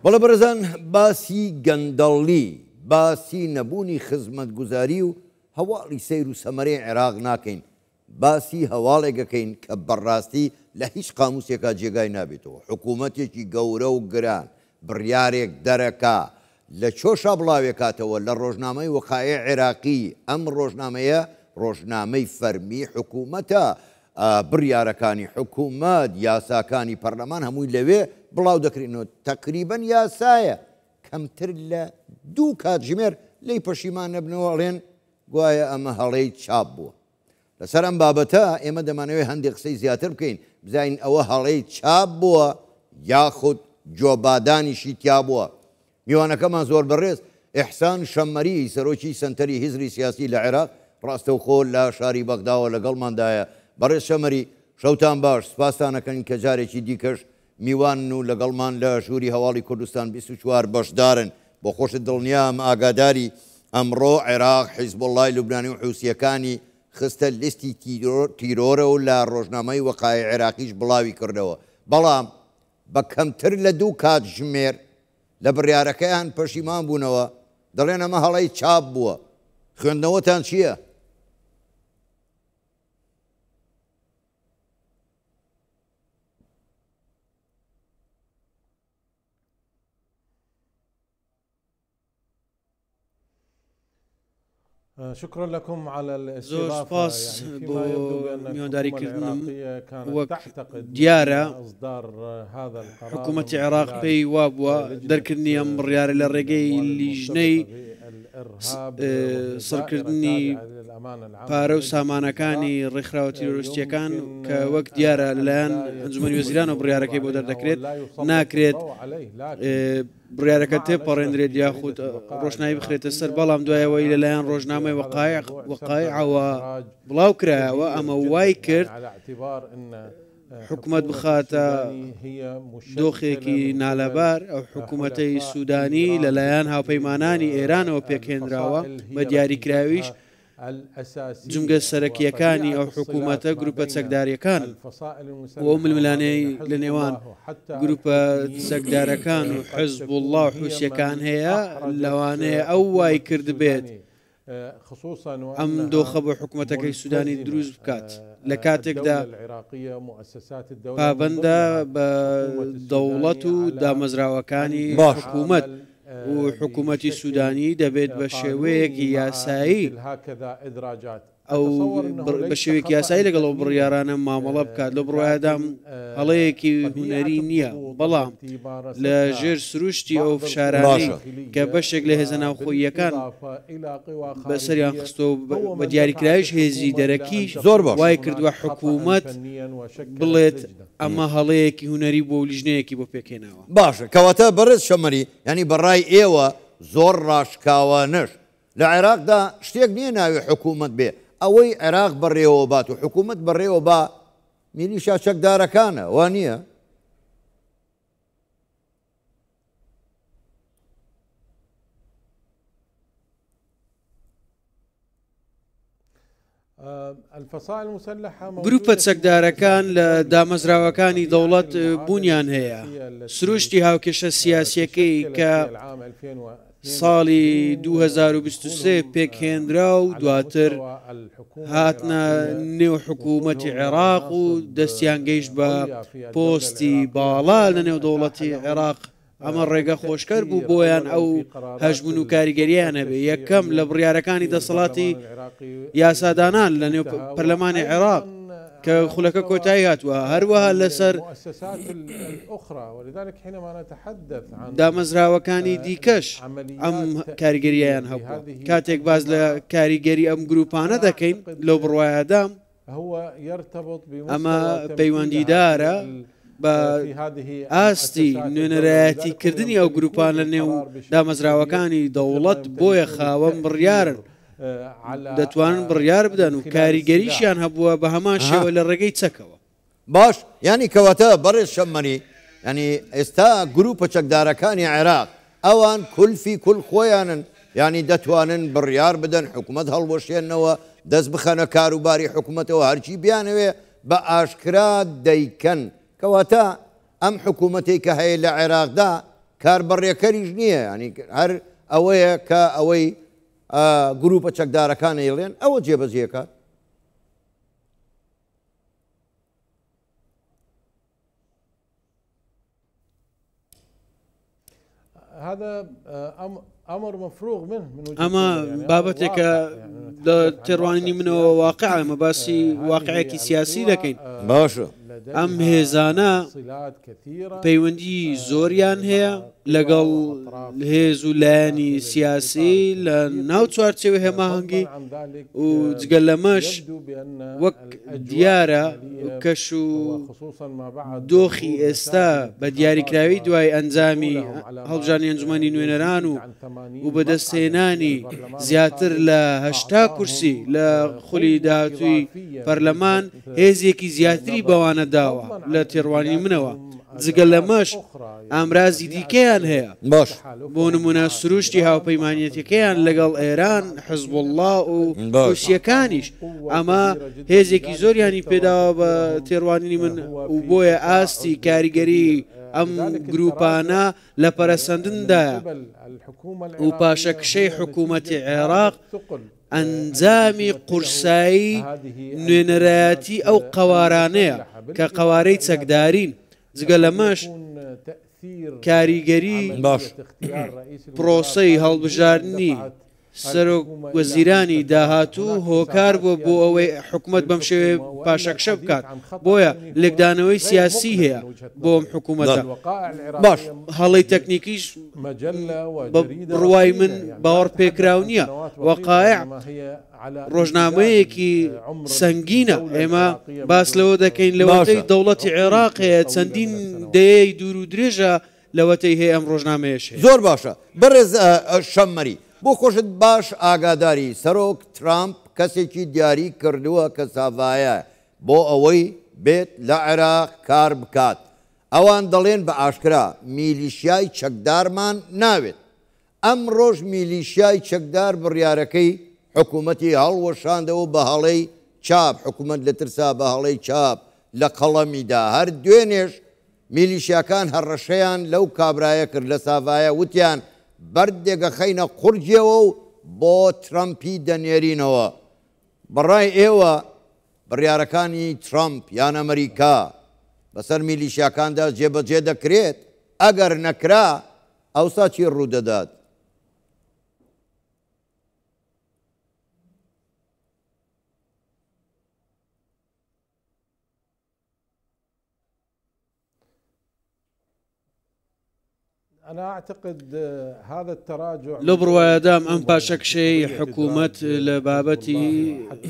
بەڵێ بەڕێزان باسی گەندەڵی، باسی نەبوونی خزمەتگوزاری و هەواڵی سەیر و سەمەرەی عێراق ناکەین، باسی هەواڵێک ئەکەین کە بەڕاستی لە هیچ قاموسێکا جێگای نابێتەوە، حکوومەتێکی گەورە و گران بڕیارێک دەرەکا لە چۆشا بڵاوێکاتەوە لە ڕۆژنامەی وقائع عێراقی، ئەم ڕۆژنامەیە ڕۆژنامەی فەرمی حکوومەتە، بڕیارەکانی حکوومەت، یاساکانی پەرلەمان هەمووی لەوێ بڵاو دەکرێن و تەقریبەن یاسایە، کەمتر لە دوو کاتژمێر لێی پەشیمان نەبنەوە ئەڵێن گوایە ئەمە هەڵەی چاپ بووە. لەسەر ئەم بابەتە ئێمە دەمانەوێت هەندێک قسەی زیاتر بکەین، بزانین ئەوە هەڵەی چاپ بووە یاخود جۆبادانیشی تیا بووە. میوانەکەمان زۆر بەڕێز ئیحسان شەممەری سەرۆکی سەنتەری هزری سیاسی لە عێراق ڕاستەوخۆ لە شاری بەغداوە لەگەڵماندایە. بەڕێز شەمەری، شەوتان باش، سپاستان ئەکەین کە جارێکی دیکەش میوانن و لەگەڵمان لە ژووری هەواڵی کوردستان بیست و چوار بەشدارن. بۆ خۆشت دڵنیام ئاگاداری، ئەمڕۆ عێراق حیزبوڵڵای لوبنانی و حوسییەکانی خستە لیستی تیرۆرە و لە ڕۆژنامەی وەقائی عێراقیش بڵاوی کردەوە، بەڵام بە کەمتر لە دوو کاتژمێر لە بڕیارەکەیان پەشیمان بوونەوە، دەڵێن ئەمە هەڵەی چاپ بووە. خوێندنەوەتان چییە؟ شکر لەکم زۆر سپاس بۆ میوانداریکردنم وەک دیارە حکوومەتی عێراق پێی وا بووە دەرکردنی ئەم بڕیارە لە ڕێگەی لیژنەی سڕکردنی پارە و سامانەکانی ڕێکخراوە تیرۆرستیەکان کە وەک دیارە لەلایەن ئەنجومی وەزیران و بڕارەکەی بۆ دەردەکرێت ناکرێت بڕارەکە تێپەڕێنرێت یاخود ڕۆشنایی بخرێتە سەر بەڵام دوایەوەی لەلایەن ڕۆژنامەی وقایق وقایعەوە بڵاو کرایەوە ئەمە وای کرد حکومەت بخاتە دۆخێکی نالەبار ئەو حکوومەتەی سوودانی لەلایەن هاوپەیمانانی ئێرانەوە پێکهێنراوە بە دیاریکراویش جمگە سەرەکیەکانی ئەو حکوومەتە گروپە چەکداریەکان بۆ ململانەی لە نێوان گروپە چەکدارەکان و حزب الله حوسەکان هەیە لەوانەیە ئەو وای کرد بێت ئەم دۆخە بۆ حکومەتەکەی سودانی دروست بکات لە کاتێکدا پابەندە بە دەوڵەت و دامەزراوەکانی حکومەت و حکومەتی سودانی دەبێت بە شێوەیەکی یاسایی ئەو بە شێوەیەکی یاسایی لەگەڵ ئەو بڕیارانە مامەڵە بکات لەو بڕایەدام هەڵەیەکی هونەری نییە بەڵام لە ژێر سروشتی ئەو فشارانەی کە بەشێک لە هێزە ناوخۆییەکان بەسەریان خستۆ بە دیاریکراویش هێزی دەرەکی زۆر وای کردووە حکوومەت بڵێت ئەمە هەڵەیەکی هوەری بۆ لیژنەیەکی بۆ پێکێناوە باشە کەواتە بەڕێز شەمەری ینی بەڕای ئێوە زۆر ڕاشکاوانەش لە عێراقدا شتێک نییە ناوی حکوومەت بێ ئەوەی عێراق بەڕێوە بات و حکوومەت بەڕێوە با میلیشا چەکدارەکانە وا نییە؟ گروپە چەکدارەکان لە دامەزراوەکانی دەوڵەت بوونیان هەیە سروشتی هاوکێشە سیاسیەکەی کە ساڵی دوو هەزار و بیست و سێ پێکهێنرا و دواتر هاتنە نێو حکوومەتی عێراق و دەستیان گەیشت بە پۆستی باڵا لە نێو دەوڵەتی عێراق ئەمە ڕێگە خۆشکەر بوو بۆیان ئەو هەژمون و کاریگەریانە بێ یەکەم لە بڕارەکانی دەسەڵاتی یاسادانان لە نێو پەرلەمانی عێراق کە خولەکە کۆتایی هاتووە هەروەها لەسەر دامەزراوەکانی دیکەش ئەم کاریگەریان هەبوو کاتێک باز لە کاریگەری ئەم گروپانە دەکەین لەو بڕواایەدام ئەمە پەیوەندیدارە بە ئاستی نوێنەرایەتی کردنی ئەو گروپان لە نێو دامەزراوەکانی دەوڵەت بۆیە خاوەم بڕیارن دەتوانن بڕیار بدەن و کاریگەریشیان هەبووە بە هەمان شێوە لە ڕێگەی چەکەوە. باش یانی کەواتە بەڕێز شەممەری یانی ئێستا گروپە چەکدارەکانی عێراق ئەوان کولفی کول خۆیانن یانی دەتوانن بڕیار بدەن حکومەت هەڵوەشێنەوە دەست بخەنە کاروباری حکومەتەوە هەرچی بیانەوێ بە ئاشکرا دەیکەن کەواتە ئەم حکوومەتی کە هەیە لە عێراقدا کار بەڕێکەریش نییە ینی هەر ئەوەیە کە ئەوەی گرووپە چەکدارەکان ئەیڵێن ئەوە جێبەجێکات. ئەمە بابەتێکە لە تێڕوانینی منەوە واقع ئەمە باسی واقعێکی سیاسی دەکەین باشە ئەم هێزانە پەیوەندی زۆریان هەیە لەگەڵ هێز و لایەنی سیاسی لە ناو چوارچێوە هێماهەنگی و جگە لەمەش وەک دیارە کەش و دۆخی ئێستا بە دیاریکراوی دوای ئەنجامی هەڵبژانی ئەنجومی نوێنەران و و بەدەستهێنانی زیاتر لە هەشتا کورسی لە خولی داهاتوی پەرلەمان هێزێکی زیاتری بەوانە داوە لە تێڕوانی منەوە. جگە لەمەش ئامرازی دیکەیان هەیە، بۆ نموونە سرووشتی هاوپەیمانیەتەکەیان لەگەڵ ئێران، حزبوڵڵا و حوسییەکانیش، ئەمە هێزێکی زۆریانی پێداوە بە تێڕوانینی من و بۆیە ئاستی کاریگەریی ئەم گرووپانە لە پەرەسەندندایە و پاشەکشەی حکوومەتی عێراق ئەنجامی قورسایی نوێنەرایەتی ئەو قەوارانەیە کە قەوارەی چەکدارین. جگە لەمەش کاریگەری باش پرۆسەی هەڵبژاردننی سەرۆک وەزیرانی داهاتوو هۆکار بووە بۆ ئەوەی حکوومەت بەم شێوێ پاشەکشە بکات بۆیە لێکدانەوەی سیاسی هەیە بۆم حکوومەت باش هەڵی تەکنیکیش ڕوای من باوەڕ پێکراو نییە وەقاە ڕۆژنامەیەکی سەنگینە، ئێمە باس لەوە دەکەین لەوەتەی دەوڵەتی عێراق هەیە چەندین دەیەی دوور و درێژە لەوەتەی هەیە ئەم ڕۆژنامەیەش هەیە. زۆر باشە بەڕێز شەممەری، بۆ خۆشت باش ئاگاداری، سەرۆک ترامپ کەسێکی دیاری کردووە کە ساڤایە بۆ ئەوەی بێت لە عێراق کار بکات، ئەوان دەڵێن بە ئاشکرا میلیشیای چەکدارمان ناوێت، ئەمڕۆش میلیشیای چەکدار بڕیارەکەی حکومەتی هەڵوەشاندەوەو بە هەڵەی چاپ، حکومەت لە ترسا بە هەڵەی چاپ لە قەڵەمی دا. هەر دوێنێش میلیشیاکان هەڕەشەیان لەو کابرایە کرد لە ساڤایا وتیان بەردێک ئەخەینە قوڕگیەوەو بۆ ترەمپی دەنێرینەوە. بەڕای ئێوە بڕیارەکانی ترەمپ یان ئەمریکا بەسەر میلیشیاکاندا جێبەجێ دەکرێت؟ ئەگەر نەکرا، ئەوسا چی ڕوودەدات؟ لەو بڕوایەدام ئەم پاشەکشەی حکوومەت لە بابەتی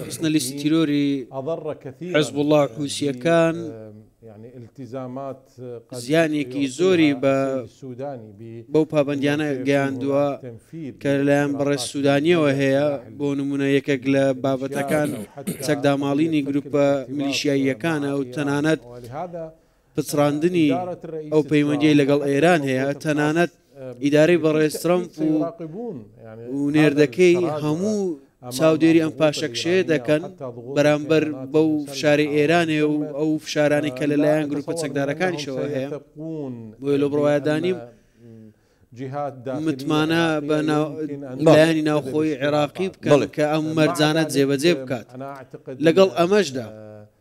خستنە لیستی تیرۆری حزب وڵات حوسیەکان التیزامات زیانێکی زۆری بە بەو پابەندیانە گەیاندووە کە لەلایەن بەڕێز سوودانیەوە هەیە بۆ نمونە یەکێک لە بابەتەکان چەکداماڵینی گروپە میلیشیاییەکانە و تەنانەت پچڕاندنی ئەو پەیوەندی لەگەڵ ئێران هەیە تەنانەت ئیدارەی بەڕێز ترەمپ و و نێردەکەی هەموو چاودێری ئەم پاشەکشەیە دەکەن بەرامبەر بەو فشاری ئێرانێ و ئەو فشارانی کە لەلایەن گروپە چەکدارەکانیشەوە هەیە بۆی لە بڕوایدانیم متمانە بە لایەنی ناوخۆی عێراقی بکەڵ کە ئەم مەرجانە جێبەجێ بکات لەگەڵ ئەمەشدا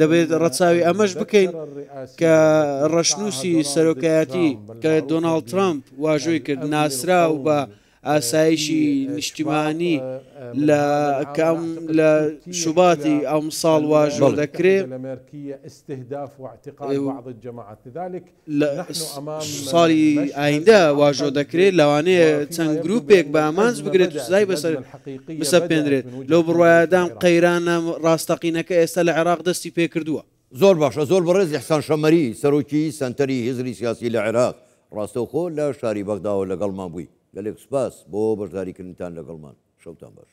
دەبێت ڕەچاوی ئەمەش بکەین کە ڕەشنووسی سەرۆکایەتی کە دۆناڵد ترامپ واژۆی کرد ناسرا و بە ئاسایشی نیشتیمانی لە کەم لە شوباتی ئەم ساڵ واژۆ دەکرێت لە مێرکیە ئستهداف وعتقال بعض الجماعات لذلك لە ساڵی ئایندە واژۆ دەکرێت، لەوانەیە چەند گرووپێک بە ئامانج بگرێت و سزای بەسەر بسەپێنرێت، لەو بڕوایەدام قەیرانە ڕاستەقینەکە ئێستا لە عێراق دەستی پێکردووە. زۆر باشە زۆر بەڕێز ئیحسان شەمەری سەرۆکی سەنتەری هزری سیاسی لە عێراق ڕاستەوخۆ لە شاری بەغداوە لەگەڵمان بووی گەلێک سوپاس بۆ بەشداریکردنتان لەگەڵمان شەوتان باش.